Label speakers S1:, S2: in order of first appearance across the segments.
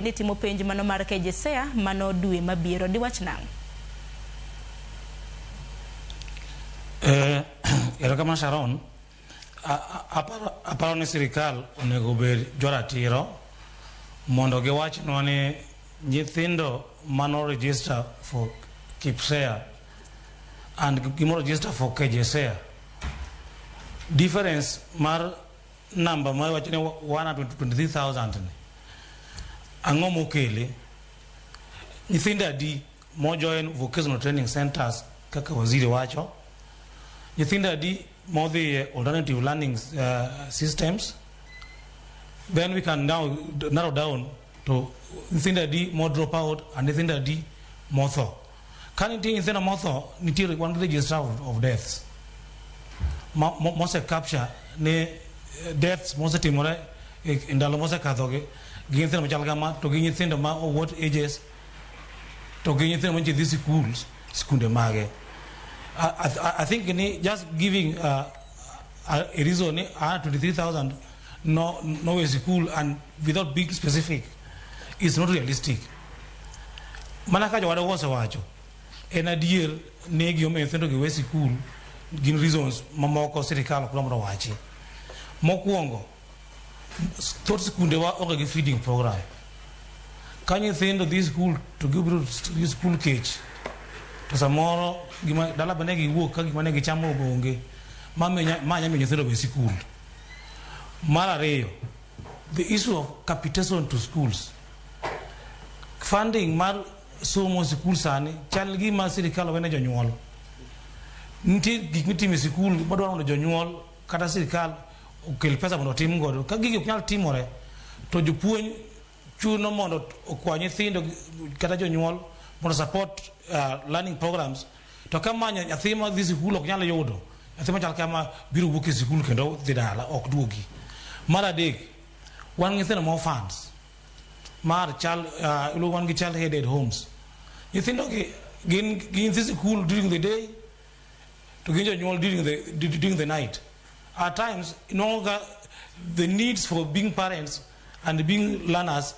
S1: Idhi timo penj mano mar KJSEA mano dwe mabiro. Diwach nang'?
S2: Eh, erokamano Sharon. Aparo ni sirikal onego bed joratiro mondo giwachnwa ni nyithindo mano register for KIPSEA and gimo register for KJSEA. Difference mar number ma wacho ni 123000 ni ang'o mokele nyithindo adi mojoin vocational training centers kaka waziri wacho nyithindo adi modhi e alternative learning uh, systems then we can now narrow down to nyithindo adi mo drop out and nyithindo adi motho Ka nitie nyithindo motho, nitiere wan gi register of, of deaths ma- mo- mose capture ni eh, deaths mosetimore e e ndalo mosekadhogi gi nyithindo machal kama to gi nyithindo ma of what ages to gi nyithindo mantie dhi schools sikunde mage I, I, I think ni just giving uh, a, a reason ni ah, 23000 no, no way school and without being specific is not realistic Mana ka jowadwa osewacho, en adier ni gimomiyo nyithindo gi we sikul gin reasons mamoko sirikal ok mondo wachi. Mokwongo, thoth sikundewa onge gi feeding program. Ka nyithindo dhi sikul to gibiro gi sikul kech to samoro gima dala bende giwuok ka gima ne gichamo onge ma minya- ma nyamiyo nyithindo we sikul. Mar ariyo, the issue of capitation to schools Funding mar somo e sikul sani chal gi ma sirkal wene jonyuol. Nitie gik mitimo e sikul madwaro mondo jonyuol kata sirkal okel pesa mondo otim godo. Ka gigi ok nyal timore to jopuonj chuno mondo okwa nyithindo kata jonyuol mondo support uh, learning programs to ka manyo nyathi ma dhi sikul ok nyal yudo nyathi machal kama biro wuok e sikul kendo dhi dala ok duogi. Mar adek Wan nyithindo ma orphans mar child uh, iluongo wan gi child headed homes. Nyithindo gi gin gin nyithi sikul during the day to gin jonyuol during the during the night. At times inwang'o ka the needs for being parents and being learners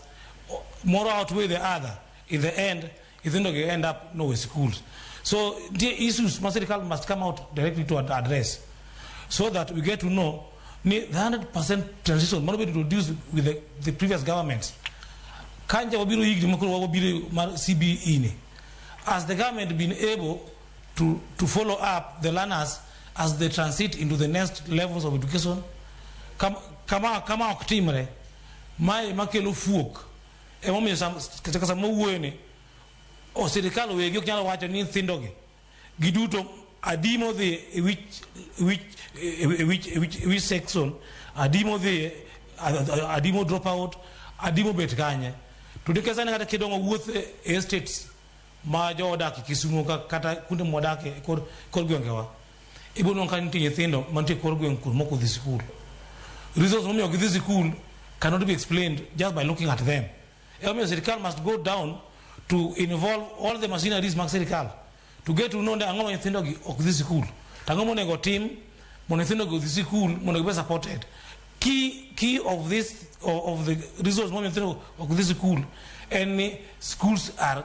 S2: moro outweigh the other in the end nyithindo gi end up no way schools so nitie issues ma sirikal must come out directly to ad- address so that we get to know ni the 100% transition mano bedo introduced with the, the previous government kanja wabiro higni makoro wabiro mar cbe ni has the government been able to, to follow up the learners as they transit into the next levels of education Kam- kama kama ok timre mae makelo fuok Emomiyo sam- kata sama owuoyo ni o sirikal wegi ok nyalo wacho ni nyithindogi giduto adi modhi e wich wich e wich e wich e wich section adi modhi adi mo drop out adi mobet kanye to nikech sani kata kidongo wuoth e estates ma joodak e Kisumo ka- kata kuonde mwadakie kor kor gwengewa Ibo nonka nitie nyithindo mantie kor gweng' kuno mok odhi sikul. Reasons momiyo gidhi sikul cannot be explained just by looking at them. Emomiyo sirkal must go down to involve all the machineries mag sirkal to get to know ni ang'o ma nyithindogi ok dhi sikul. To ang'o monego otim mondo nyithindogi odhi sikul mondo gibe supported. Key, key of this of, of the reasons momiyo nyithindo ok dhi sikul en ni schools are